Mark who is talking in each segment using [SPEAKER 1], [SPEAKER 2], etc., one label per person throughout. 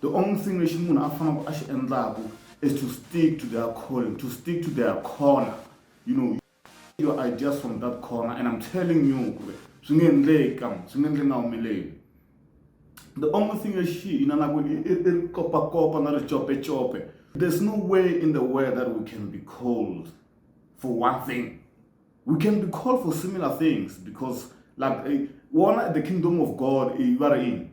[SPEAKER 1] The only thing lexi munhu a fanaka a xi endlaku is to stick to their calling, to stick to their corner. You know, your ideas from that corner and I'm telling you ku ri swi nge endleki ka swi nge endleki nga humeleli. The only thing lexi hi na na ku i ri kopakopa na ri copecope. There's no way in the world that we can be called for one thing. We can be called for similar things because like eh, one, the kingdom of God, eh, you are in.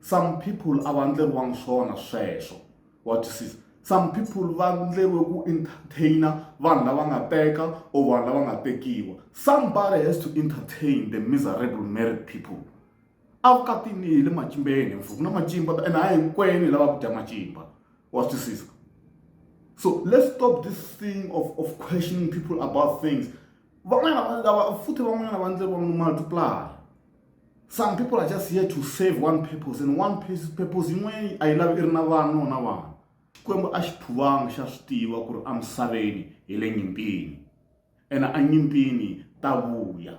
[SPEAKER 1] some people a va ndleriwangi swona sweswo wa twisisa some people va ndleriwe ku entertainer vanhu lava nga teka or vanhu lava nga tekiwa somebody has to entertain the miserable married people a ku katini hi le macimbeni mfu ku na macimba and a hinkwenu hi lava ku dya macimba wa twisisa so let's stop this thing of, of questioning people about things van'wana lava futhi van'wanyana va ndleriwangi no multiply some people are just here to save one purpose and one purpose yin'we a yi lavi i ri na vana no na vana xikwembu a xi phuvanga xa swi tiva ku ri emisaveni hi le nyimpini ene enyimpini ta vuya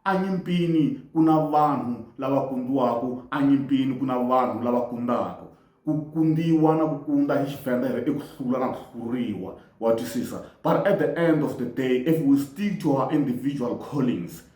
[SPEAKER 1] enyimpini ku na vanhu lava kundiwaka enyimpini ku na vanhu lava kundaka ku kundiwa na ku kunda hi xivenda ri i ku hlula na ku hluriwa wa twisisa but at the end of the day if we stick to our individual callings